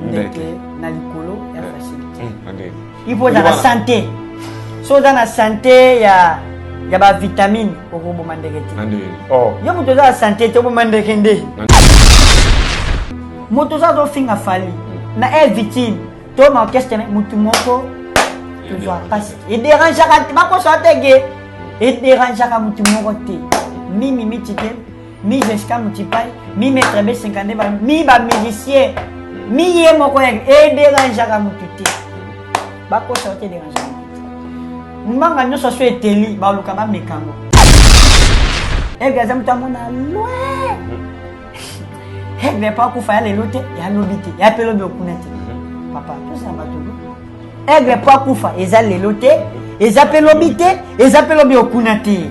ndeke na likolo ya eh. facilité hmm, ipo ozala sante so oza na sante ya ya bavitamine okoboma ndeke te oh. yo moto oza na sante te oboma ndeke nde moto oza azofinga fali na air victime to maorchestre motu moko tozwa mpasi ederangeaka bakosaka teke ederangeaka motu moko te mimi miti te mi Jessica Mutipai, mi Maître B52, ba, mi ba musicien, mi ye moko ya e derangeaka mutu te. Bakosa ote derangeaka mutu. Mbanga nyonso so eteli baluka bameka yango. Ege aza moto amona loin. Ege pa kufa ya lelo te, ya lobi te, ya pe lobi okuna te. Papa, tosa bato. Ege pa kufa eza lelo te, eza pe lobi te, eza pe lobi okuna te.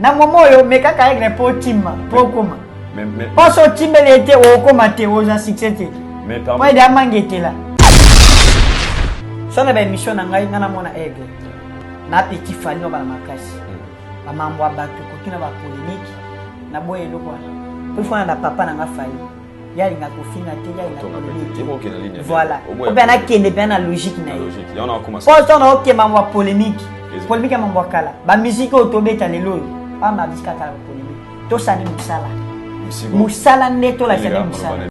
na momo oyo mekaka aigle mpo otima mpo okoma mposo otimbeli ye te okoma te oza succès te mpo ede amangetela so na baémission na ngai ngai namona aigle na petit fali nobala makasi hmm. bamambo ya bato koki na bapolémike na boye eloko wana mpo ifana na papa na ngai fali ye alinga kofinga te ye alinga polemique voilà o mpe anakende mpe na logique na ye mpo ntango naokema mambo ya polemique polemique ya mambo ya kala bamiziki oyo tobeta lelo oyo bama miziki ya kala polemique tosani mosala mosala nde tolakisa nde mosala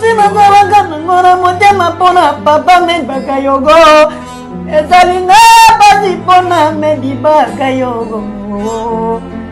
simazalaka nango na motema mpo na papa medbaka yogo ezali nga pasi mpo na medibaka yogo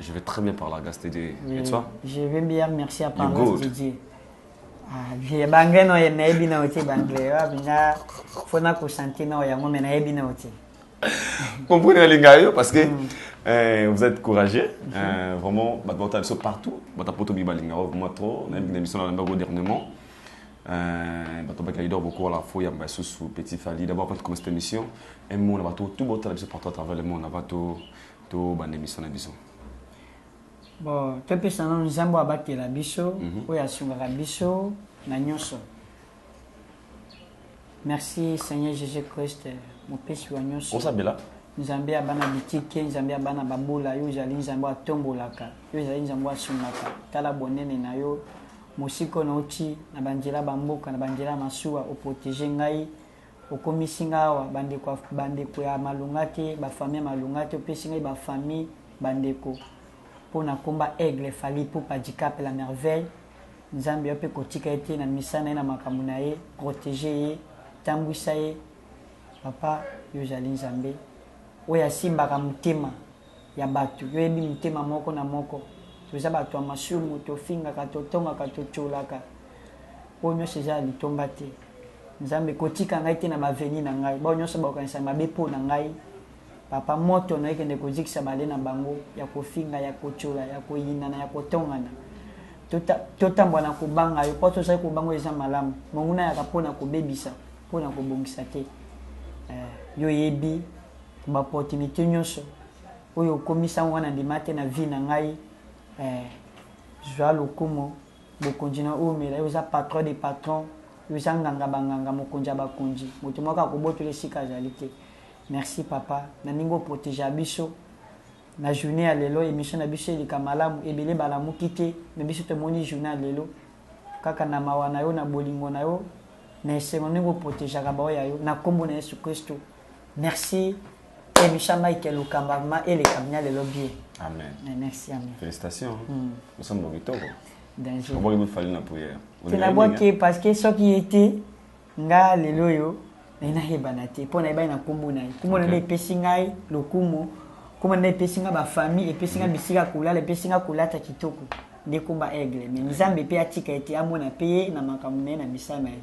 Je vais très bien par la grâce de Dieu. Et toi Je vais bien, merci à par la grâce de Dieu. Ah, banglais no ye nayebi na otie banglais wapi nga fo na kosanti na oyo yango me nayebi na otie comprenez nalinga yo parce que mm. euh, vous êtes courageux mm -hmm. euh, vraiment bato bauta biso partout bata poto mi balinga yo vraiment trop nayebi na biso na landa go dernièrement euh, bato baki leader boko wala fo yamba lisusu petit fali d'abord quand tu commence cette émission un mot na bato tout bautala biso partout à travers le monde na bato To banda emission na biso. Bo to pesa nanu nzambe oyo abatela biso oyo asungaka biso na nyoso merci seigneur jesus christ mopesi wa nyoso Osabela. nzambe ya bana bitike nzambe ya bana babula yo ozali nzambe oyo atombolaka yo ozali nzambe oyo asungaka tala bonene na yo mosika oyo nauti na banzela ya bamboka na banzela ya masuwa oprotege ngai Okomisi nga awa ba ndeko ya ba ndeko ya malonga te ba famille ya malonga te opesi ngai ba famille ba ndeko pona komba aigle fally ipupa dicap la merveille nzambe yo pe kotika ye te na misa naye na makambo naye protege ye tambuisa ye papa yo ozali nzambe oyo asimbaka motema ya batu yo yebi mitema moko na moko toza batu ya masumu tofingaka totongaka totiolaka oyo nionso eza ya litomba te nzambe kotika ngai te na ba veni na ngai bao nionso bakokanisa mabe po na ngai papa moto na ekende kozikisa bale na bango ya kofinga ya kotiola ya koyinana ya kotongana totambwa na kobanga yo mpo tozali kobanga eza malamu monguna yaka mpo na kobebisa mpo na kobongisa te eh, yo yebi Ba opportunites nionso oyo okomisi yango wana ndima te na vie na ngai eh Zua lokumu bokonzi na oumela yo oza patron de patron yo oza nganga ba nganga mokonzi ya ba konzi moto moko akobotola esika azali te merci papa na ndenge o protegea biso na journee ya lelo emission na biso eleka malamu ebele balamuki te mais biso tomoni journee ya lelo kaka na mawa na yo na bolingo na yo na esengo ndenge o protegeaka baoyo ya yo na kombo na yesu christo Merci emission Mike Lokamba vraiment eleka bina lelo bien. Amen. Mais merci amen. Félicitations. Mm. Nous sommes au Bitoro. Danger. Au bout fallait la prière. C'est la boîte qui parce que ce qui était nga lelo yo mais na hebana te pona ebana na kombo na ye. Kombo na ye pesi ngai lokumu. Kombo na ye pesi ngai ba famille et pesi ngai bisika kolala et pesi ngai kolata kitoko. Ndekomba aigle mais Nzambe pe atika ete amona pe na makambo na ye na misala na ye.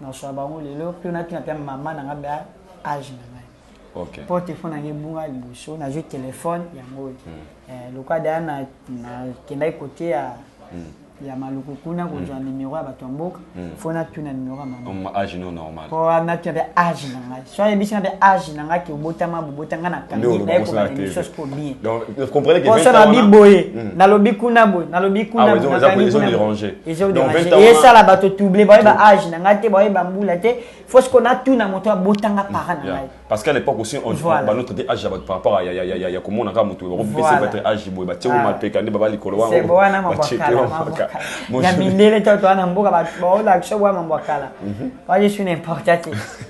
na swa bango lelo mpe natuna mpe mama na ngai ba age na ngai okay. mpo telefone yango ebunga liboso nazwi telefone yango oyo mm. eh, lokola daya nakendaki na kote ya mm. ya maluku kuna kozwa mm. nimero ya bato ya mboka mm. fo natuna nimero ya mama age no normal mpo natuna mpe age na ngai soki ayebisi nga mpe age na nga ke obotama bobota nga na kambi naye kobanda émission siko bien poso nalobi boye nalobi kuna boye nalobi kuna boyeesala bato touble bayeba age na nga te bayeba mbula te fo siko natuna moto abotanga para na ngai parce qu'à l'époque aussi on voilà. ba notre âge ya par rapport à ya ya ya ya komona ka mutu ko pese votre âge boye ba tse ma pe ka nde ba bali kolo wango ba tse ke wango ka ya mindele to to ana mboka ba ba ola action wa mambo kala ba je suis n'importe quoi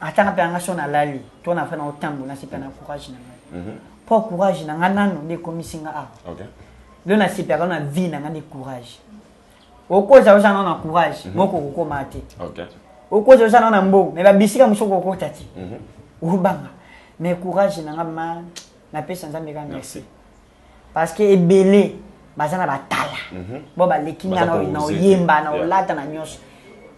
ata nga mpe anga so nalali to nafa na otambo nasepela na courage na ngai mpo mhm. courage na ngai nano nde ekomisi nga awa lelo nasepelaka na vie na ngai nde courage okozala oza nao na courage mhm. moko okokoma te okozala oza nao na mbongo me babisika mosusu okokota te mhm. obanga mais courage na ngai ma napesa nzambe ka merci parce que ebele baza na batala mhm. bo baleki nga na oyemba na olata na nyonso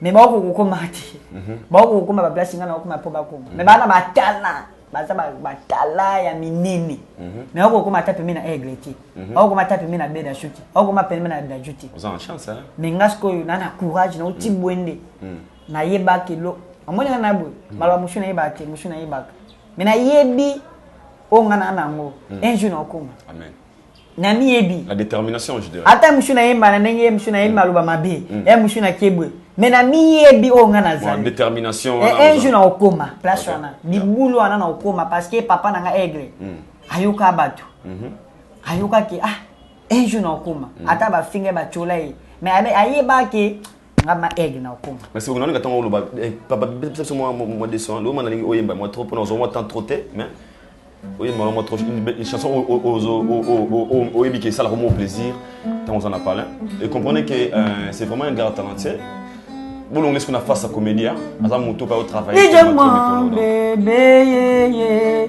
mais baoko kokoma te mhm. baoko kokoma baplace nga na okoma mpo bakoma mais bana batala baza batala ya minene mhm. mais baoko kokoma ata pembe na aigle te baoko kokoma ata pembe na beda su te baoko kokoma pembe na daju te mais nga sikoyo na na courage na oti bwende nayebaki lo amoni nga na boye maloba mosusu nayebaka te mosusu nayebaka mais nayebi oyo nga naa na yango hmm. un jour naokoma amen na miyebi la détermination je dirais ata musu na yemba na ndenge musu na yemba hmm. aloba mabe hmm. ya musu na kiebwe mais na miyebi oyo nga nazali détermination eh, un jour naokoma place wana libulu wana naokoma parce que papa na nga aigle ayoka bato mhm. ayokaki ah un jour naokoma ata bafinga batyola ye mais ayebaki nga ma aigle na okoma mais sikoyo nalinga ntango oloba eh, papa bebisa biso mwa mwa 200 loma nalingi oyemba mwa trop mpona ozwa mwa temps trop te mais oyemba mwa mwa trop une belle- une chanson o- o- ozo- o- o- o- o- oyebi ke esalaka mo plaisir ntango oza na palin et comprenez que euh, c'est vraiment un grand talentueux bolongoli siko na face ya comédien aza moto mpe aotravaille Ije mwa bebe ye ye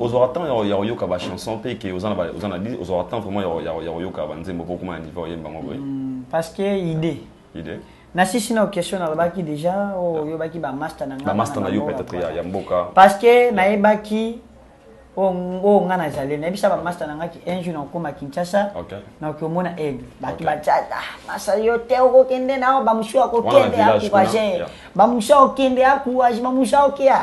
ozwaka temps ya koyoka bachanson mpe ke oza na bi ozwaka temps vraiment ya koyoka banzembo mpo okoma na niveau oyemba yango boye hmm, parce que idée idée nasisi na question nalobaki déjà oyo oyobaki bamasta na ngamasta na yo peut-être ya mboka parce que nayebaki oyo ngai nazali nayebisa bamasta na ngaki un jour nakokoma kinshasa nakoki omona aigle bato batiata masa yo te okokende nao bamosusu akokende akourage bamosusu akokende akourage bamosusu akokia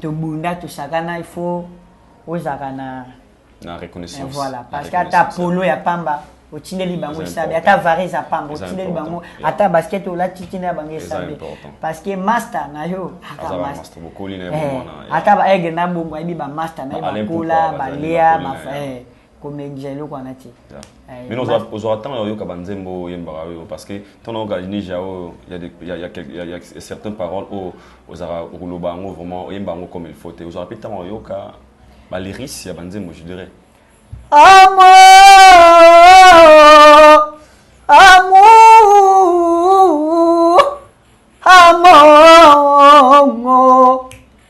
tobunda tosakana il faut ozalaka na na reconnaissance eh, voilà parce que ata polo ya pamba otindeli bango esabe ata vare eza pamba otindeli bango ata basket olati tina ya bango esabe parce que master na yo ata baaigle na bongo ayebi bamaster na ye bakola balea komengisa eloko wana te eh, bino ozwaka ntango ya koyoka banzembo oyo oyembaka oyo parce que ntango nayoka nija oyo ya certain parole oyo ozalaka okoloba yango vraiment oyemba yango comme il faut te ozwaka mpe ntango ya koyoka baliris ya banzembo je dirais amour amour amour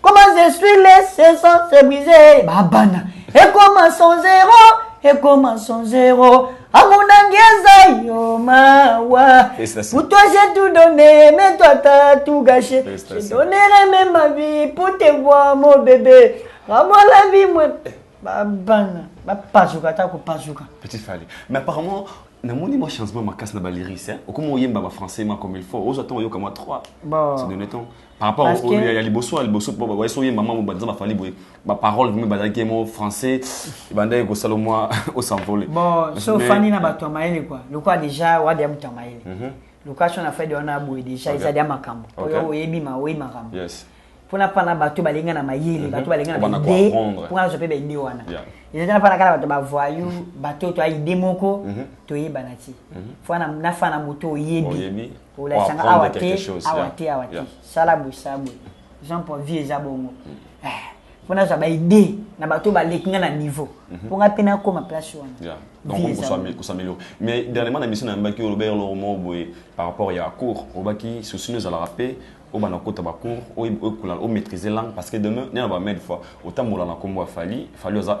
Comment je suis laissé sans se briser Babana Et comment son zéro Et comment son zéro Amour nangieza yo mawa Pour toi j'ai tout donné Mais toi t'as tout gâché Je donnerai même ma vie Pour te voir mon bébé Rends-moi la vie moi Babana Bapazuka ta kupazuka Petit Fally Mais apparemment namoni mwa changement makasi na baliris okomi oyemba bafrançais ma comme il faut ozwa ntango oyoka mwa 3 donne temps par rapport Parce au- que- ya ya liboso ya liboso po baye soki mama mobanza bafali boye baparole vraimen bazalaki mo français ebandaki kosala mwa osanvole bon so ofandi na bato ya mayele kua lokola deja wadi abuta ya mayele location na fede wana boye deja eza dia makambo Okay. oyo oyebi ma oyebi makambo yes mpona mpana bato balinga na mayele bato balinga na Obanda baide koapprendre. mpo nazwa mpe baide wana Yeah. eza tena mpana kaka bato bavoyu bato to aide moko toyebana ti fo na fana moto oyebi Oyebi. kolakisa nga awa te awa te awa te sala boye sala boye jean paul vie eza bongo mpo mm. eh, nazwa baide na bato baleki nga na niveau mpo mhm. nga mpe nakoma place wana kosameliore mais dernièrement na mission nayambaki olobaki eloko moko boye par rapport ya cours olobaki souci no ezalaka mpe obanda kota bacours omaîtrise langue parce que demain nena bamede fois otambola na nkombo ya fali fali oza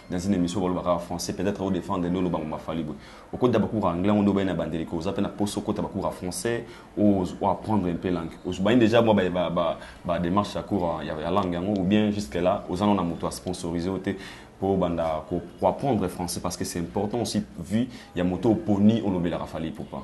dans une emission baloba kaka français peut être o defendre nde oloba ngoma fally boye okota ba cours anglais yango nde obaye na bandeli ko oza pe na poso okota ba cours ya français o apprendre un peu langue ozubaye déjà mwa ba ba ba démarche ya cours ya, ya langue yango ou bien jusque là oza na moto a sponsoriser o te po banda ko apprendre français parce que c'est important aussi vu ya moto oponi olobelaka fally pourquoi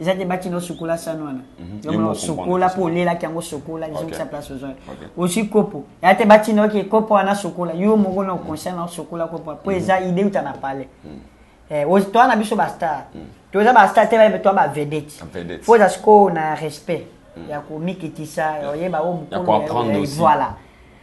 eza te bakina osokola sani wana yomona osokola mpo olelaki yango osokola ezongisa place ozwa ozwi kopo ya te batina oke kopo wana sokola yo moko na okonscient na osokola kopo mpo eza ide uta na pale toa na biso bastar toza bastar te bayebi toa bavedete fo oza sikoyo na respect ya komikitisa oyeba o mokolo voilà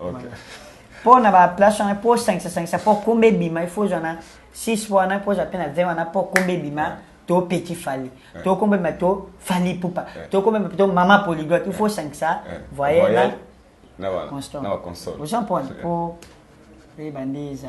okay. mpo na baplace wana mpo sangisasangisa mpo komba ebima ifo ozwa na 6 mpo wana mpo ozwa mpe na 20 wana mpo komba ebima to petit fali to komba ebima to fali pupa to komba ebima to mama polyglotte ifo osangisa voyel na constant oza mpona mpo eyeba nde eza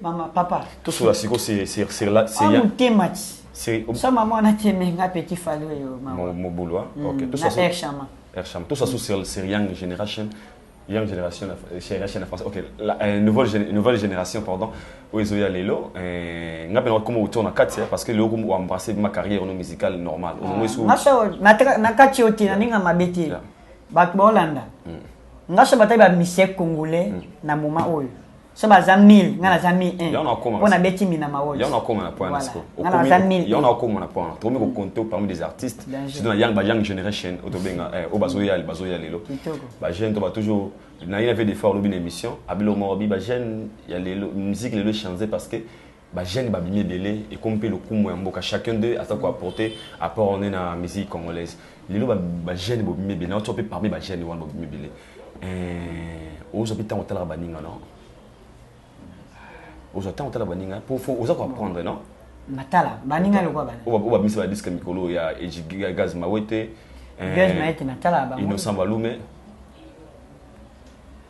mama papa tosola siko seyasama mwana temenga petit fali oyo mobulwa ershama ershama tosola so sur young generation young generation generation ya français ok la, euh, nouvelle, nouvelle génération pardon oyo ezoya lelo euh, nga mpe nakoma autour na kati parce que lelo oembrasse ma carrière no musicale normale na kati oyo te na ndenge ya mabe te bato baolanda ngasha batali bamise congolais na moment oyo so baza 1000 nga naza 1001 mpo nabeti mina maoyo yango nakoma na point nasiko yango nakoma na point tokomi kokonto parmi des artistes surtout na young ba young generation oyo tobenga eh, oyo bazoya bazoya lelo ba jeune to ba toujours na ye na vie d'effort lobi na émission abilo morobi ba jeune ya lelo musique lelo echange parce que Ba jeunes ba bimi ebele ekomi pe lokumu ya mboka chacun d'eux aza ko apporter apport ne na musique congolaise. Lelo ba ba jeunes bo bimi ebele na ozo pe parmi ba jeunes wana bo bimi ebele eh ozo pe tango otalaka ba ninga no ozo tango otalaka ba ninga po faut oza ko apprendre no matala ba ninga lokwa bana oba oba bimisa ba disque mikolo ya ejiga gaz mawete eh, gaz mawete matala ba innocent balume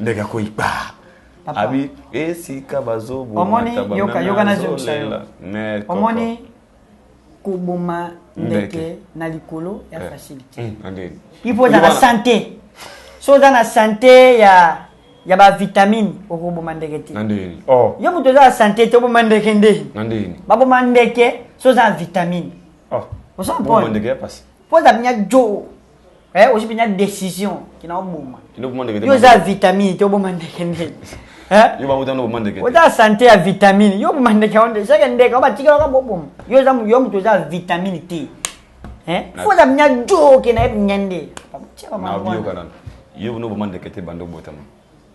ndeke akwei paa Papa. abi esika bazobo Omoni, mata yoka, bameme yoka na azolela. jokisa yo. Ne, koko. omoni koboma ndeke Ndeke. na likolo ya Eh. facilité Mm, andeni. il faut ozala Wana. santé so oza na santé ya ya bavitamine okoboma ndeke te nandeni oh yo moto oza na santé te oboma ndeke nde nandeni baboma ndeke so oza na vitamine oh Ozo Bongo comprendre? ndeke ya pasi mpo oza binya jo Eh, osi penya decision kina oboma. Ino boma ndeke te. Yo za vitamine te oboma ndeke ndeke. Eh? Yo ba utano boma ndeke te. Oza santé ya vitamine. Yo boma ndeke onde. Seke ndeke oba tikela ka boboma. Yo za yo mutu za vitamine te. Eh? Fo za mnya joke na yep nyande. Na biyo kana. Yo no boma ndeke te bando botama.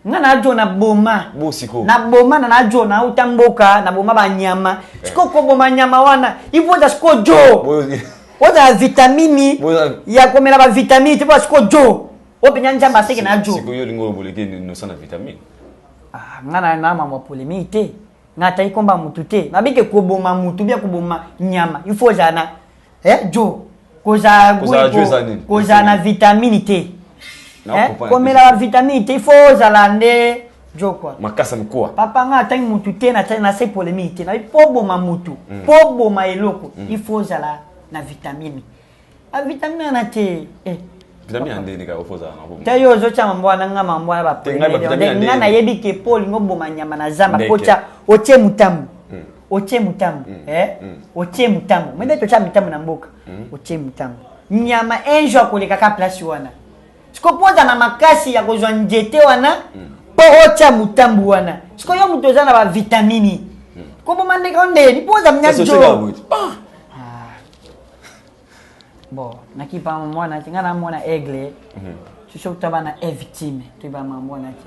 nga na jo na boma bo siko na boma na na jo na uta mboka na boma ba nyama eh. siko ko boma nyama wana ipo da siko jo oza vitamini ya komela ba vitamini te po siko jo o penya njamba seke na jo siko yo lingo boleke no sana vitamini ah nga na na mama polemique te nga tai komba mutu te na bike ko boma mutu bia ko boma nyama il faut jana eh jo kozala Kozala jo eza nini? kozala na vitamini te Na Eh, comprendre. komela ba vitamini te il faut ozala nde jo quoi makasa mikuwa papa nga atangi mutu te na na se polemiki te na po boma mutu po boma eloko il faut ozala na vitamine a vitamine wana te eh vitamine ya ndenge kaka ofoza na bomo ta yo ozotya mambo wana nga mambo wana ba Te, ngai ba vitamine ya nga ndenge. nayebi ke po olingi oboma nyama na zamba Ndeke. po otya otie mutambu otie mutambu mm. eh? mm. otie mutambu mende totia mitambu na mboka mm. otie mutambu nyama un jour akoleka ka place wana siko mpo oza na makasi ya kozwa nzete wana mm. mpo otya motambu wana siko yo moto oza na bavitamini mm. koboma ndeko ndeni mpo oza mnyajo bon nakipa mwanaki ngai namona aigle mhm. soki toba na e victime toyeba ma mwanaki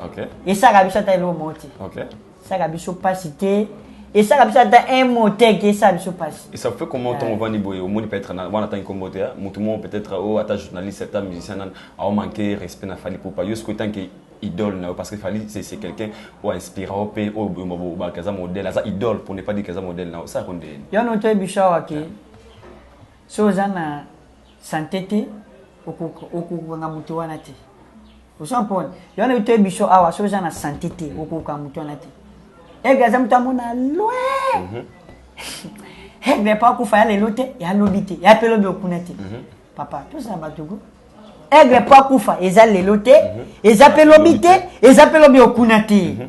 esaka biso ata eloo moo te esaka biso mpasi te esaka biso ata un mot te ke esala biso mpasi et ça fait comment ntongo ovandi boye omoni peut-être wana atangi nkombo te motu moko peut-être o oh, ata journaliste ata musicien nani aomanke respect na fali pupa yo sikoyo tanke idole na yo parce que fali c'est quelqu'un oyo inspira yo mpe oyo obaka aza modèle aza idole pour ne pas dire que aza modèle na yo osala ko ndeni yo no toyebi biso awa ke Soki oza na sante te, okokanga moto wana te. Ozo mpona yona utoye biso awa, soki oza na sante te, okokanga moto wana te. Aigle aza moto amona loin. Mhm. Aigle pa akufa ya lelo te, ya lobi te, ya pe lobi okuna te. Mhm. Papa, tozala bato go. Aigle pa akufa eza lelo te, mhm. eza pe lobi te, eza pe lobi okuna te.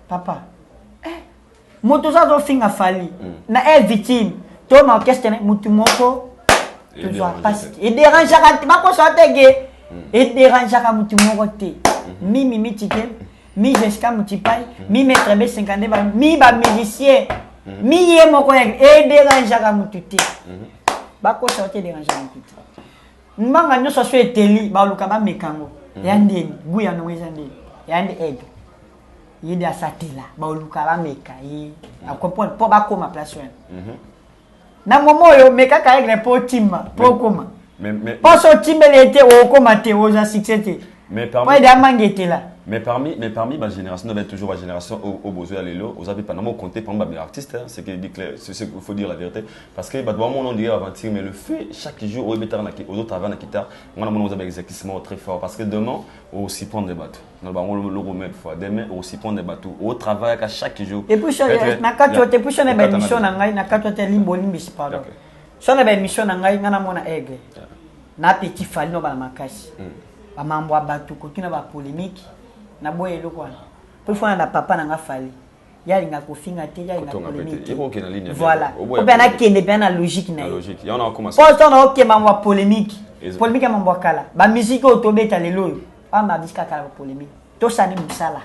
Papa. Eh. Moto oza zo finga fali. Mm. Na eh victime. To na orchestre na mutu moko. To zo passe. Et dérange ka te bako so te ge. Mm. Et dérange ka mutu moko te. Mm-hmm. Mi mi mi tike. Mi Jessica Mutipai. Mm-hmm. Mi maître B52 ba mi ba musicien. Mm-hmm. Mi ye moko ya et dérange ka mutu te. Bako so te dérange ka mutu te. Mbanga nyoso so eteli ba luka ba mekango. Ya ndeni, guya no eza ndeni. Ya ndeni. ye nde asatela baoluka bameka ye mm. acomprendre mpo bakoma place wana mhm. na momo oyo mekaka aigle mpo otima mpo okoma mposo otimbeli ye te okoma te oza succès te mpo ede amangetela mais parmi mais parmi ma génération on avait toujours ma génération au, au besoin lelo aux avez pendant compté parmi mes artistes hein, c'est que c'est ce qu'il faut dire la vérité parce que bah doit mon dire aventure mais le fait chaque jour au mettre aux autres avant la guitare on a mon aux avez exactement très fort parce que demain aussi prendre des bateaux naloba yango loko mille fois demain okosurprendre bato otravaillaka chaque jour epuis nakati yo te epuis sona baémission na ngai nakati yo te limba olimbisi pardon sona baémission na ngai ngai namona aigle na petit fali no bana makasi hmm. bamambo ya bato kotuna bapolémike naboya eloko wana mpo ifona na papa na ngai fali ye alinga kofinga te ye alinga polémike voilà obe nakende mpe na logique na ye mpo sona okema mambo ya polémike polémike ya mambo ya kala bamusike oyo tobeta lelo oyo pamba bisi kaka na polemique tosani musala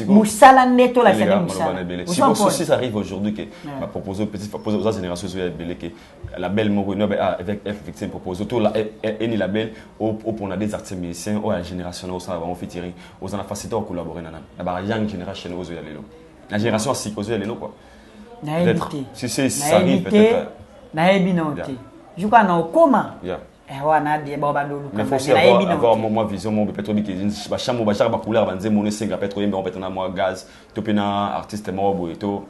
musala nde tolakisa nde musalasosi ça arrive aujourd'hui ke bapropose petit propose oza génération ezoya ebele ke label moko enobe ah, avec f victime propose to eh, eh, eni label opona des artistes musiciens oyo ya génération na osala bango fitiri oza na facilité ya collaborer na nani na ba young generation ozoya lelo na génération asika ozoya lelo quoi peut-être si c'est ça arrive peut-être nayebi na yo te juka na okoma Eh, wana abie bao bando oluka mais faut aussi avoir, avoir mwa mwa vision moko peut-être oyebi ke bachambre bajaka bacouleur banzembo ono esenga peut-être oyembe yango peut-être na mwa gaz to mpe na artiste moko boye to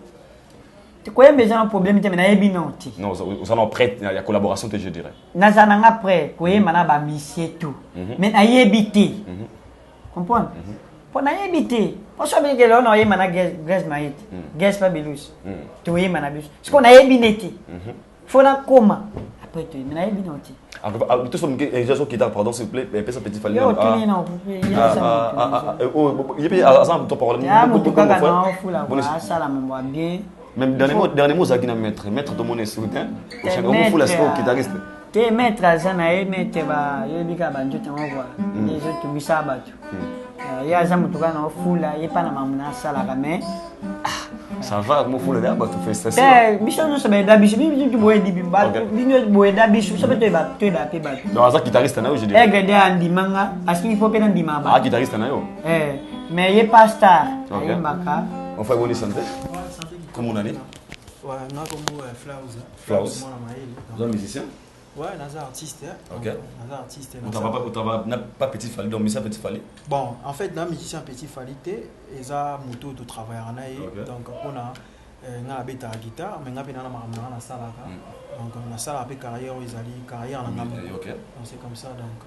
koyemba eza na problème te me nayebi nao te non oza na prêt ya collaboration te je dirais naza na nga prêt koyemba na bamisie tout mais nayebi te comprendre mpo nayebi te poso abengele ona oyemba na grace maite grace fabelus toyemba na biso sikoyo nayebi ne te faut nakoma après toyebi nayebi na otie toso moke eja so kitaka pardon s'il vous plaît pesa petit fali oyo ye mpe aza na parolesala mambo ya bien même dernier mot ozalaki na maître maître tomona esoutien okofula sikoyo kitariste te maître aza na ye maître bayebi kaka banjote yango kua ezotumisa bato ye aza moto kaka na ofula ye mpa na mamuna asalaka mais ça va mofula na bato festation eh, biso nyonso bayeda biso bitu boyedi bino boyeda biso biso mpe toyeba toyeba mpe bato donc aza guitariste na yo je dirais egede eh, andima nga asingi mpo mpe nandima ba ah guitariste na yo eh mais ye pa star ayembaka ofa eboni sante komona nini Flaus. Flaus. Vous êtes musicien Ouais, naza artiste. Hein? Ok. Naza artiste. Naza... Utaba, utaba, na pas petit Fally, donc musicien petit Fally. Bon, en fait, na musicien petit Fally te, eza moto de travailler en aïe. Okay. Donc, on a euh, nga beta guitare, mais nga bena na makambo na sala ka. Mm. Donc, na sala pe carrière ezali carrière na nga. Mm, okay. Donc, c'est comme ça donc.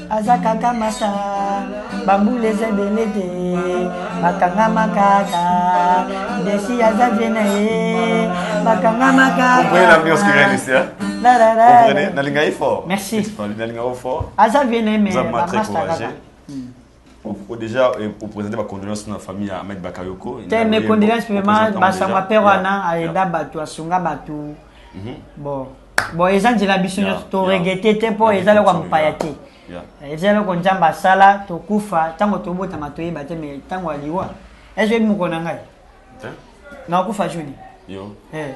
aza kaka masa bambula eza ebele te bakangama kaka desi aza vie na ye bakangama kakanalinga ye fort merci nalinga yo fort aza vie na ye mais bamasta kaka déjà eh, opresente bacondoléance na famille ya ahmed bakayoko te mes condoléance vraiment basango apere wana ayeda bato asunga bato bon bon eza nzela biso nyonso yeah, toregete yeah. te mpo yeah, eza eloko ya mopaya te yeah. Eh, eza eloko nzambe asala tokufa ntango tobotama toyeba te mai ntango ya liwa ezo yebi mokolo na ngai nakufa juni eh.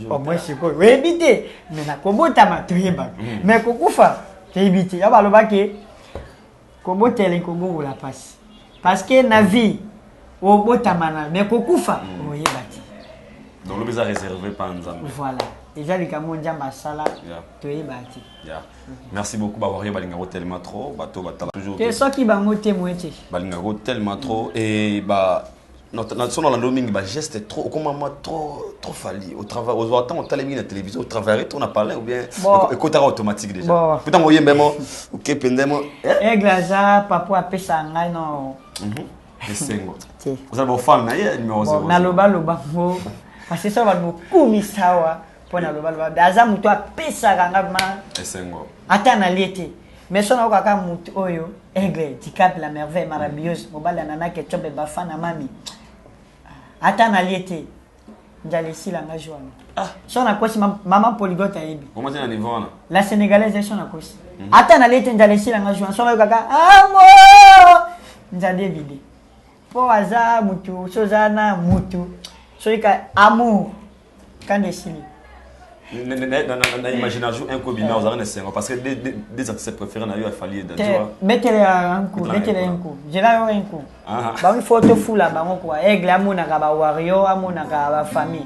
omoi sikoyo oyebi te mai nakobotama toyebaka mai mm. kokufa toyebi te ya balobaki Kobotela ekobongola pasi parce que na vie obotama na mais kokufa mm. oyeba te. Donc lobi eza réservé pa Nzambe. Voilà. Eza likambo Nzambe asala toyeba te. Yeah. Mm. Merci beaucoup ba warrior balinga ko tellement trop bato batala toujours. Te soki bango te moite. Balinga ko tellement trop et ba na so nalandi yo mingi bageste trop okomama trop trop fali otravaille ozwa ntango otali mingi na télévision otravaille trop na palin oubien ekotaka automatique déjà po ntango oyembe mo oke mpenza mo aigle aza papo apesa ngai no mhm. esengo ozala bofane na ye numéro nalobaloba ngo kasi so bato bokumisa awa mpo na lobaloba be aza moto apesaka nga ma esengo ata nalie te mais so nayoka kaka moto oyo aigle dicap la merveille marabiose mobali ya nana ketiobe bafana mami ata nalie te njala esila nga joana Ah. so nakosi ma- mama poligote ayebi omati na niveau wana la sénégalaise eso nakosi ata nalie te njala esila nga joana so nayokaka amo njala ebide po aza mutu soki oza na mutu soki ka amour kanda esili na imagination un kobima ozalaka na esengo parce que des artistes préféré na yo afali ye betele ya nku betele ya nku jela yo nku bango fo tofula bango kua aigle amonaka bawario amonaka bafamille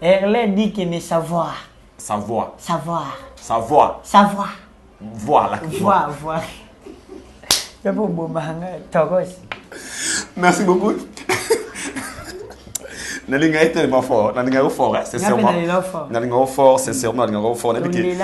Erlais dit que mais savoir. Savoir. Savoir. Savoir. Savoir. Voir la Voir, voir. Ya bo bomanga togos. Merci beaucoup. nalinga ye tellement fort nalinga yo fort hein, sincèrement nalinga yo fort sincèrement nalinga yo fort nayebi ke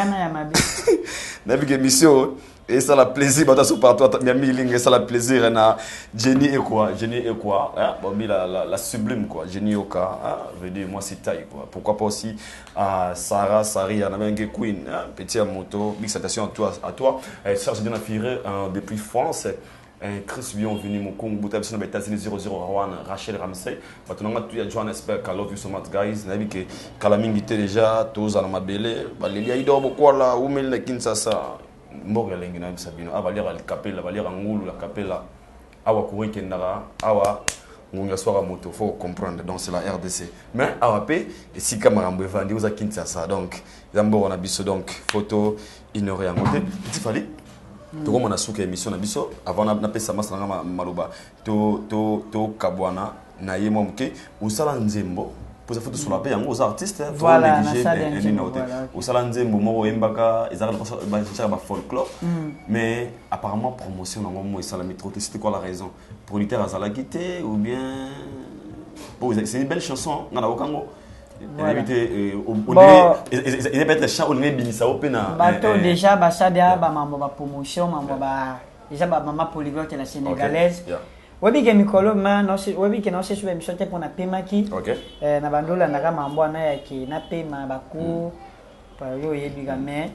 nayebi ke émission esala plaisir bato aso partout miami ilinga esala plaisir eh, na jenny ekwa jenny ekwa hein, eh, bomi la, la, la sublime quoi jenny yoka hein, eh, veut dire mwasi taille quoi pourquoi pas aussi uh, sarah saria na menge queen hein, petit ya moto big salutation à toi à toi eh, charge de na fire euh, depuis france Eh Chris bienvenue mokongo buta biso na ba Etats-Unis 00 Rawan Rachel Ramsey bato nanga tu ya Johannesburg I love you so much guys nayebi ke kala mingi te deja toza na mabele baleli ya Ido Bokwala umeli na Kinshasa mboka elengi na yebisa bino awa baliaka likapela baliaka ngulu ya kapela awa courant ekendaka awa ngungu ya swaka moto faut comprendre donc c'est la rdc mais awa mpe esika makambo evandi oza kinshasa donc eza mboka na biso donc foto ignore yango te petit fali tokoma na suka émission na biso avant napesa masa na nga maloba tokabwana na ye mwa moke osala nzembo poza fo tosola mpe yango oza artiste tonegligenino te osala nzembo moko oyembaka ezakaka bafolklore mais apparemment promotion na yango mo esalami trop te site quoi la raison producteur azalaki te ou bien oh, c'est une belle chanson nga nayoka yango nayebi te eza peut-être chant olingi ebimisa yo mpe na bato eh, eh. déjà basali ya bamambo bapromotion mambo ba eza bamama polyglotte la sénégalaise oyebi ke mikolo ma oyebi ke naosesu baemission te mpo napemaki eh, na bando olandaka mambo wana yake napema bacour mm. Papa yo oyebi ka mais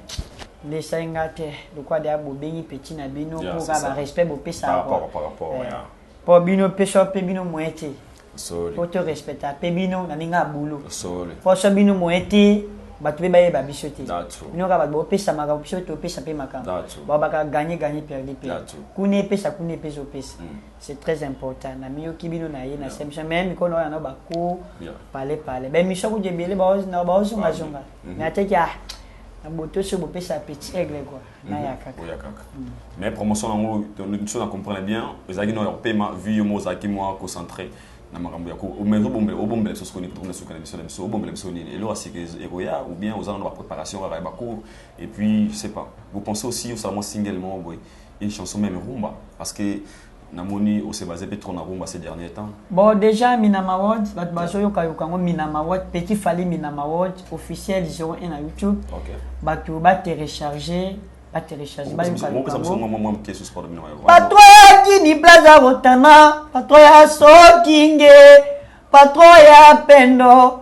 lesa ye nga te lokola deya bobengi petit na bino Yeah, po c'est ka ça. ba respect bopesa Par rapport- par rapport, yeah. po bino pesa pe bino moyen te Sorry. po to respecta pe bino na ndenge ya boulot Sorry. po so bino moyen te bato pe bayeba biso te That's true. bino kaka bato bopesa makambo biso topesa pe makambo That's true. baobaka gagne gagne perdu pe That's true. kuna epesa kuna epesa opesa C'est très important. Na miyo ki bino na ye na same chambre. Mais mikono wana ba ko pale pale. Ben mission ko jebele ba ozo na ba ozo nga zonga. Mhm. Mais ateki ah na boto so bo pesa petit aigle quoi. Mhm. Na ya kaka. Ya kaka. Mhm. Mais promotion na ngo to mission na comprendre bien. Ezaki no ya pema vu yo mo zaki moi concentré. na makambo ya mais obombela obombela biso sokoni tokona soki na biso na biso obombela biso nini eloko asika ekoya ou bien oza na ba préparation kaka ya ba cours et puis je sais pas vous pensez aussi osala mwa single moko boye une chanson meme rumba parce que namoni ose base pe trop na rumba ces derniers temps bon déjà minama world bato bazoyoka yoka yango minama world petit fali minama world officiel 01 na youtube okay. bato baterecharge baterecharge bayoka yoka yango patro ya kini blaza botana patro ya sokinge patro ya pendo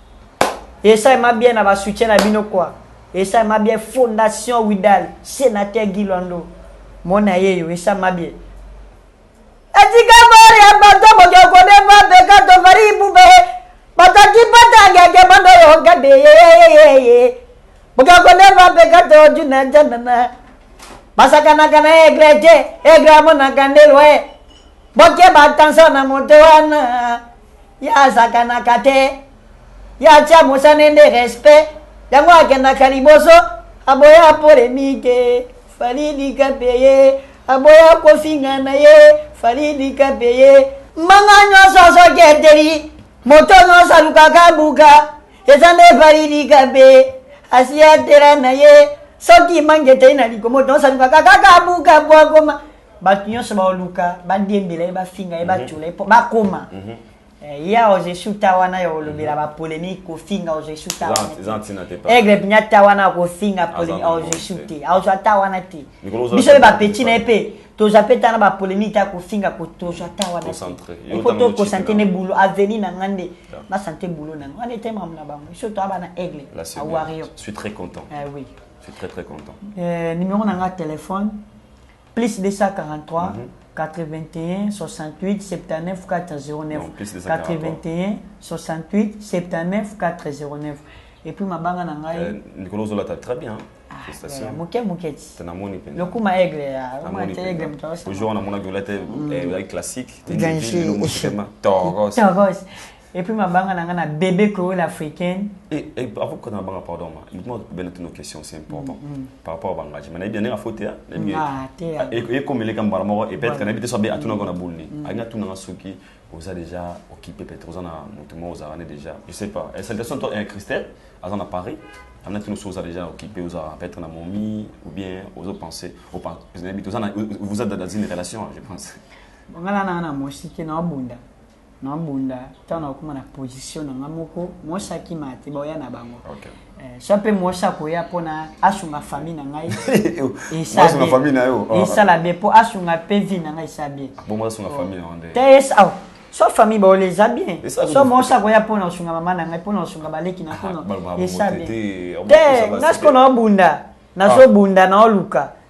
Esalema bien na ba soutien na bino quoi. Esalema bien fondation Widal, senateur Guy Lwando. Mona yeyo esalema bien. Etika bori ya bato boke kode ba beka to vari bube. Bato ki pata ngeke bando yo gade ye ye ye ye. Boke kode ba beka to juna janana. Basakanaka na egre te, egre amonaka nde lwe. Boke ba tension na moto wana. Ye asakanaka te. Ye atia mosane nde respect. Yango akendaka liboso. Aboya polemique. Fally lika pe ye. Aboya kofinga na ye. Fally lika pe ye. Mbanga nionso azo keteli. Moto nionso alukaka abuka. Eza nde Fally lika pe. Asi atela na ye. Soki mbanga eteyi na liko. Moto nionso alukaka kaka abuka po akoma. bato nyonso baoluka badiembela ye bafinga ye batyola ye mpo bakoma Eh, ya ozo esuta wana ya olobela ba polemique kofinga ozo esuta Eza- eza wana ntina te, te papa. aigle binya ta wana kofinga polemique na ozo bongo esute ozo ata wana te Mikolo ozo biso ata pe ba bongo petit te, na ye papa. pe tozwa pe ta na ba polemique ta kofinga ko tozwa ta wana Concentré. te Yo po tanga to mochipi kosante na ne yo. boulot avenir na nga nde Da. na sante boulot na nga wana ete mamu na bango biso toa bana aigle Là, c'est a bien. warrior Je suis très content. eh oui Je suis très très content. Euh, numéro na nga ya telefone Plus 243-81-68-79-409-81-68-79-409 et puis mabanga na ngai euh, likolo ozolata très bien ah, moke moke ti namoni mpenza lokuma aigle ya aigle moto ojour namonaki olata classique toros Et puis mabanga na nga na bebe Chloé l'africaine. Et, et avant qu'on abanga pardon ma, il m'a bien une question c'est important mm -hmm. par rapport à bangage. Mais na bien na faute hein, na bien. Ah, te. Et comme les gambara moko et peut-être na bité sobe atuna kona boulni. Anga tuna nga suki oza déjà occupé peut-être oza na mutu moko oza rane déjà. Je sais pas. Et salutations toi et eh, Christelle, azan à Paris. Amna tuna oza déjà occupé oza peut-être na momi ou bien ozo penser au pas. Vous avez dans une relation, je pense. Ngala na na moshi ke na bunda. Na bunda tango na koma na position na nga moko mwasi akima te baoya na bango okay. Eh, soit mpe mwasi akoya mpo na asunga famille na ngai esala bien mpo asunga mpe vie na ngai esala bien so famille baola eza bien so mwasi akoya mpo na kosunga mama na ngai mpo na kosunga baleki na mpono eza bien te nga sikoyo naobunda nazobunda naoluka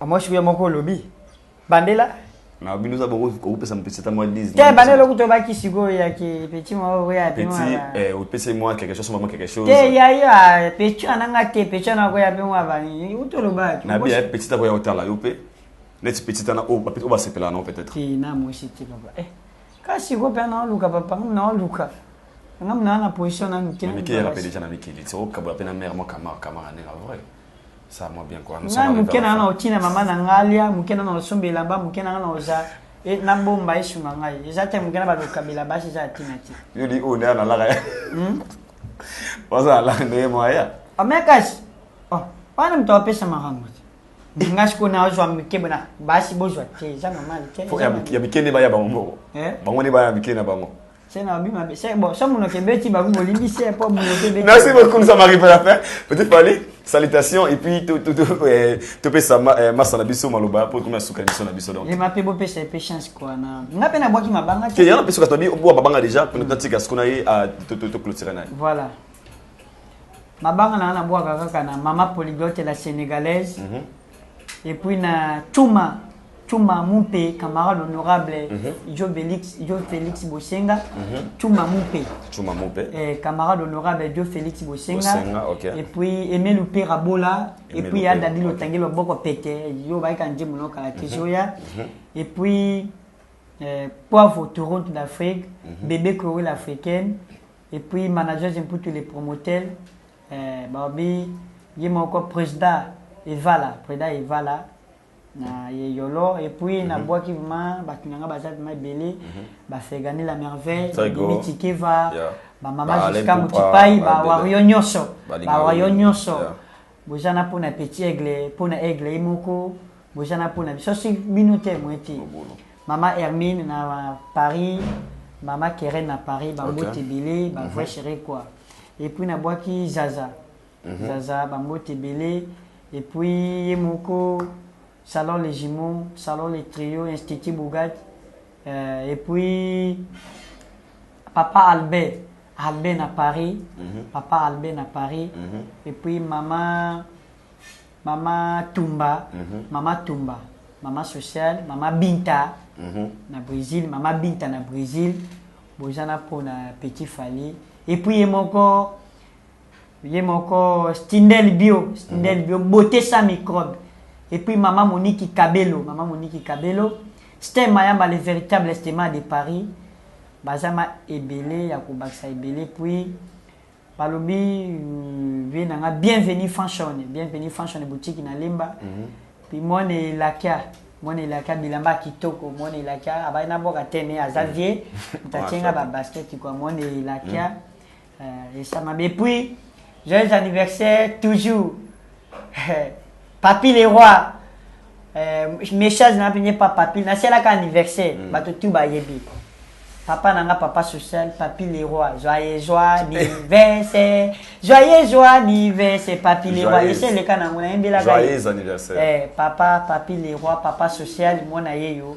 Amwashi kuya moko olobi. Bandela. Na bino za boko okopesa mpesi ta mwa 10. Te bandela okuto baki sikoyo ya ke petit mwa oyo ya bino. Petit eh opese mwa quelque chose mwa quelque chose. Te ya ya petit ana nga te petit ana ko ya bino wa bani. Uto loba ki. Na bi ya petit ako ya otala yo pe. Neti petit ana o petit o ba sepela na peut-être. Te na mwashi te papa. Eh. Kasi ko pe na oluka papa na oluka. Nga mna na position na mike. Mike ya rapele tana mike. Tso kabula pe na mère mwa kamar kamar na nga vrai. ça moi bien quoi ngai moke na nga na otina mama na nga alia moke na na osomba elamba moke na nga na oza e, na bomba esunga ngai eza te moke na balokabela basi eza ya tina te yo di oyo nde analaka ya hmm? oza alaka ndenge moya omekasi oh, wana moto apesa makambo te nga sikoyo nazwa mike bona basi bozwa te eza normal te ya mike nde baya bango moko eh? bango nde baya mike na bango C'est na bima c'est bon ça mon kebeti ba vous limbi c'est pas mon kebeti Merci beaucoup ça m'arrive à la fin petit Fally salutations et puis tout tout tout eh, tout pe ça eh, massa na biso maloba pour comme suka biso na biso donc les mape bo pe c'est pe chance quoi na nga pe na boki mabanga te yana pe suka tabi bo mabanga déjà pour notre tika skona ye à tout tout clôturer na voilà mabanga na na boka kaka na mama polyglotte la sénégalaise mm -hmm. Et puis na Tuma Tuma Mumpe, camarade honorable mm -hmm. Joe Felix, Joe Felix Bosenga, mm -hmm. Tuma Mumpe. Tuma Mumpe. Eh, camarade honorable Joe Felix Bosenga. Bosenga okay. Et puis Emelu Pera Bola, et puis ya Dadilo okay. Tangelo Boko Pete, yo ba ka nje munoka la kijoya. Mm -hmm. Mhm. Et puis eh, Poivre Toronto d'Afrique, mm -hmm. Bébé Chloé l'africaine, et puis manager Jemputu les promoteurs. Eh balobi ye moko presda evala preda evala na ye yolo et puis na bwaki vraiment batu na nga baza vraiment ebele ba fergani la merveille Très go. Mimi tikeva Yeah. ba mama Ba Alain jusqu'à Poupa, motipai ba ba ebele. wario nyonso Balinga ba wario yo. nyonso Yeah. boza na pona petit aigle pona aigle ye moko boza na pona biso si bino te moi te mama hermine na paris mama keren na paris bambote okay. ebele bavrai mhm. chere quoi epuis nabwaki zaza mm -hmm. zaza bambote ebele epuis ye moko salon les jumeaux salon les trio institut bougat euh, epuis papa albert albert na paris mm -hmm. papa albert na paris mm -hmm. epuis mama maman tumba maman tumba maman sociale maman binta na bresil maman binta na bresil boza na mpo na petit fally epuis ye moko ye moko stindel bio stindel bio beauté sans microbe epuis maman moniki kabelo maman moniki kabelo stem mayamba le véritable stema de paris baza ma ebele ya kobakisa ebele epuis Balobi vie na nga bienvenue fanshone bienvenue fanshone boutique na lemba puis mwana elakia mwana elakia bilamba ya kitoko mwana elakia abali na boka te mais aza vie moto atie nga ba basket kua mwana elakia euh, esama mais puis joyeux anniversaire toujours Papy le roi euh, message na pinye pa Papy na sela ka anniversaire mm. bato tout ba yebi papa na nga papa social papi leroy joyeux joie anniversaire joyeux joie anniversaire papi leroy ese eleka nango nayembelaka eh, papa papi leroy papa social mwana ye yo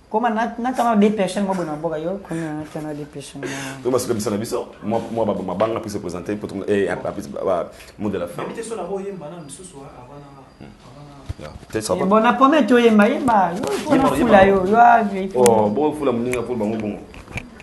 koma natanga depression mwa bona mboka yo komi natanga depression yo basuka bisa na biso mwa mabanga puisse présenter po mot de la fin bona pome toyemba yemba yo pona fula yo yo bofula moninga po bango bongo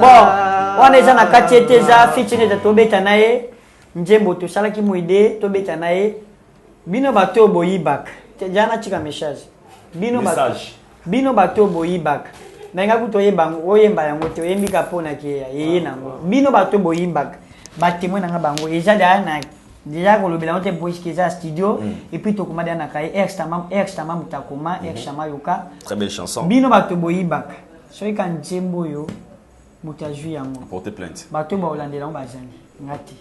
bon wana eza na kati ete eza fitineta tobeta na ye nzembo tosalaki moide tobeta na ye bino bato oyo boyibaka ja natika message bino bino bato oyo boyibaka nalinga kutu oyeba yango oyemba yango te oyembi ka mpo na keya yeye nango bino bato boyibaka batemoin na nga bango eza daa na Dejà kolobela yango te Boys Keza studio et puis tokoma dejà na kaye Eric Stama Eric Stama mutakoma Eric Stama yoka Très belle chanson. bino bato boyibaka soki ka nzembo oyo moto azwi yango Porter plainte. bato oyo bakolandela yango bazali nga te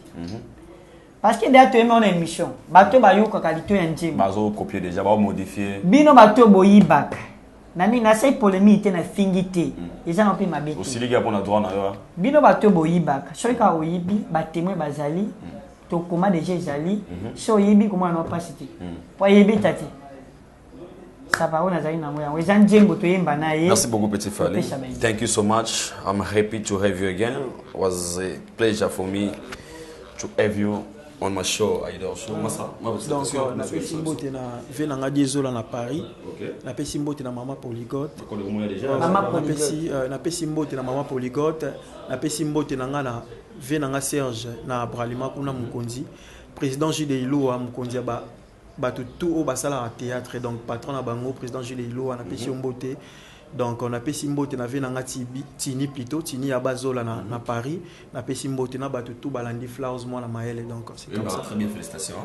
parce que deja toyemi wana émission bato oyo bayokaka lito ya nzembo Bazo copier déjà, bao modifier. bino bato oyo boyibaka Nami nasali polemique te na fingi te eza na pe mabe te. Osiliki ya pona droit na yo. Bino ba to boyibaka soki ka oyibi ba temoin bazali to koma deja ezali so oyibi komona na pasi te po ayebi ta te. Saba oyo nazali nango yango eza nzembo toyemba na ye. Merci beaucoup petit Fally. Thank you so much. I'm happy to have you again. It was a pleasure for me to have you. on ma show Aïdor show ah. masa ma donc euh, na pesi mbote na vie na ngadi ezola na Paris na pesi mbote na maman Poligote euh, maman Poligote euh, na pesi mbote na maman Poligote na pesi mbote na nga na vie na nga Serge na Bralima kuna mokonzi président Jude Ilua mokonzi ya ba bato tout oyo basalaka théâtre donc patron na bango président jules iloa napesi yo mbote donc napesi mbote na vie na nga Tibi- tini plutôt tini ya bazola na, na paris napesi mbote na bato tout balandi flowers mwana mayele donc c'est comme ça Très bien, félicitations.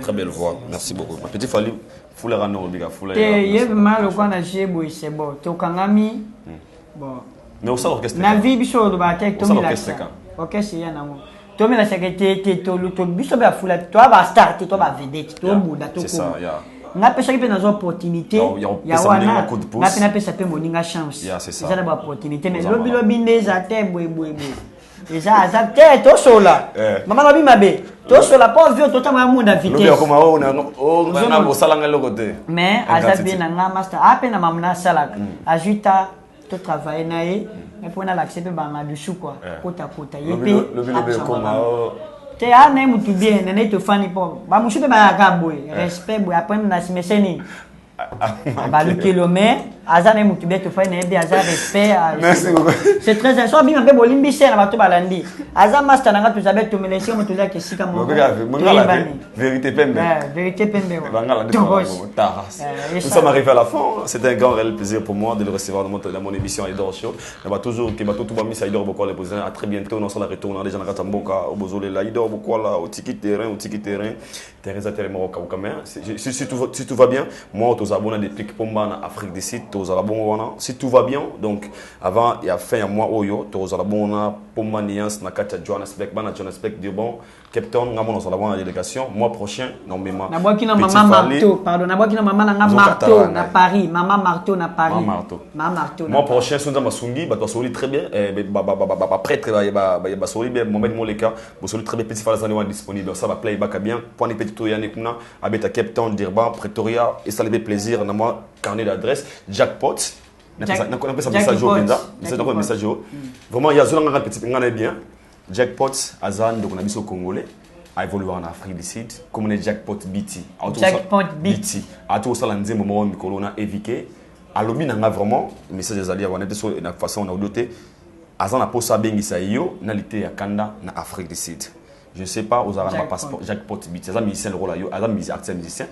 Très belle voix. Merci beaucoup. Ma petite Fally, foulera no obika foulera. te ye vraimen alokwa na jeu boye sebo tokangami mais osala orchestre na vie biso olobaka te tomilakisa orchestre ya nango tomilasaka te te biso bafula toa bastar te toa bavedete tobunda tokoma nga pesaki mpe nazwa opportunité ya wana nga mpe napesa mpe moninga chance eza na baopportunité mais lobilobi nde eza te boyeboyeboye eza aza te tosola eh. mama lobi mabe tosola po vio totanga yango na vitesseosalanga oh, eloko te mais aza bie na nga master ape ah, na mama nasalaka mm. azwi ta totravaille na ye mais mpo nalakisa mpe banga dusu kua eh. kotakota ye mpe te a ah, na ye motu bien nene tofani mpo bamosusu mpe bayaka boye eh. respect boye apres nasimeseni balukeli ome aza naye motu beto fai nayebi aza respect c'est très so abima mpe bolimbi se na bato balandi aza master na nga toza beto melesio moto ozaki esika mokoverité pembe verité pembe Nous sommes arrivés à la fin. C'est un grand réel plaisir pour moi de le recevoir dans mon, dans mon émission Edor Show. Nous toujours que tout le misa Edor Bokola pour À très bientôt. Nous sommes retour dans les gens à Katamboka, au Bozolela, Idor Bokola, au Tiki Terrain, au Tiki Terrain. Teresa telema kokauka mais si, si, si, tout, si tout va bien moi tozala bona depuis pomba na afrique du sud tozala bongo wana si tout va bien donc avant ya fin ya mois oyo tozala bongo na pomba nuance na kati ya johannesburg bana johannesburg durban cape town nga mona ozala bona délégation mois prochain nomema nabwaki na mama marto pardon nabwaki na mama na nga marto na paris mama marto na paris mama marto mama marto mois prochain sonza masungi bato basoli très bien eh, ba ba ba ba ba prêtre ba ba ba basoli bien mohamed moleka Bosoli très bien petit fala zani wana disponible ça va play baka bien pwani petit to yani kuna abeta Cape Town Durban Pretoria et ça le plaisir na moi carnet d'adresse jackpot na pesa na pesa message au Benza message au message au vraiment ya zona ngana petit ngana bien jackpot azan donc na biso congolais a évolué en Afrique du Sud comme on jackpot BT jackpot BT a tout ça la nzembo mo mikolo na éviter alobi na nga vraiment message ezali ya wana te so na façon na audio te Aza na posa abengisa yo na liteya kanda na Afrique du Sud. Je ne sais pas ozalaka na ba passeport Jacques Pot Biti aza musicien lokola yo aza musicien artiste musicien.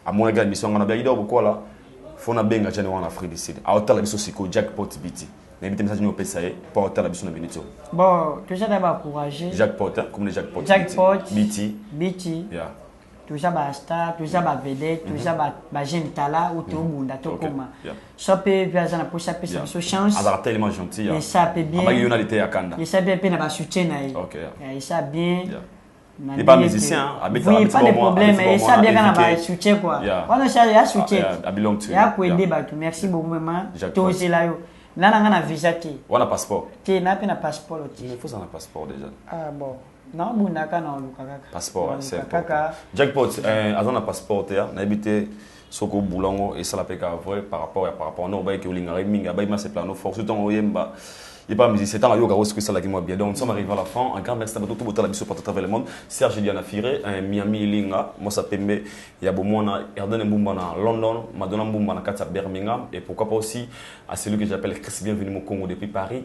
Amonaki na mission ngana biaki donc kola faut na benga Jane wana na Afrique du Sud. Aotala biso siko Jacques Pot Biti. Na yebi te message nini opesa ye po aotala biso na minute oyo. Bon toza na ba courage. Jacques Pot hein comme Jacques Pot. Jacques Pot Biti. Biti. Yeah. toza ba star toza ba vedette toza mhm. ba ba jeune tala ou to mhm. bunda to koma soit pe via za na posa pesa biso chance azala tellement gentil et ça pe bien abaki yona lite ya kanda et ça bien pe na ba soutien na ye et ça bien n'est pas musicien abeta oui pas de problème et ça bien na ba soutien quoi wana ça ya soutien ah, ya ko aider batu merci beaucoup maman tozela yo nana nga na visa te wana passeport te na pe na passeport te il faut ça na passeport déjà ah bon Na bunda ka na oluka kaka. Passeport, hein, c'est important. Jackpot, euh, aza na passeport te, hein, nayebi te soki obula yango esala mpe kaka vrai par rapport ya par rapport wana obayaki olingaka ye mingi abayaki masepela no fort surtout ntango oyemba ye mpe musicien ntango ayokaka osiko esalaki mwa bien donc nous sommes arrivé à la fin un grand merci na bato to botala biso partout travers le monde serge diana fire un miami ilinga mwasa pembe ya bomwana erdene mbumba na london madonna mbumba na kati ya birmingham et pourquoi pas aussi à celui que j'appelle chris bienvenu mokongo depuis paris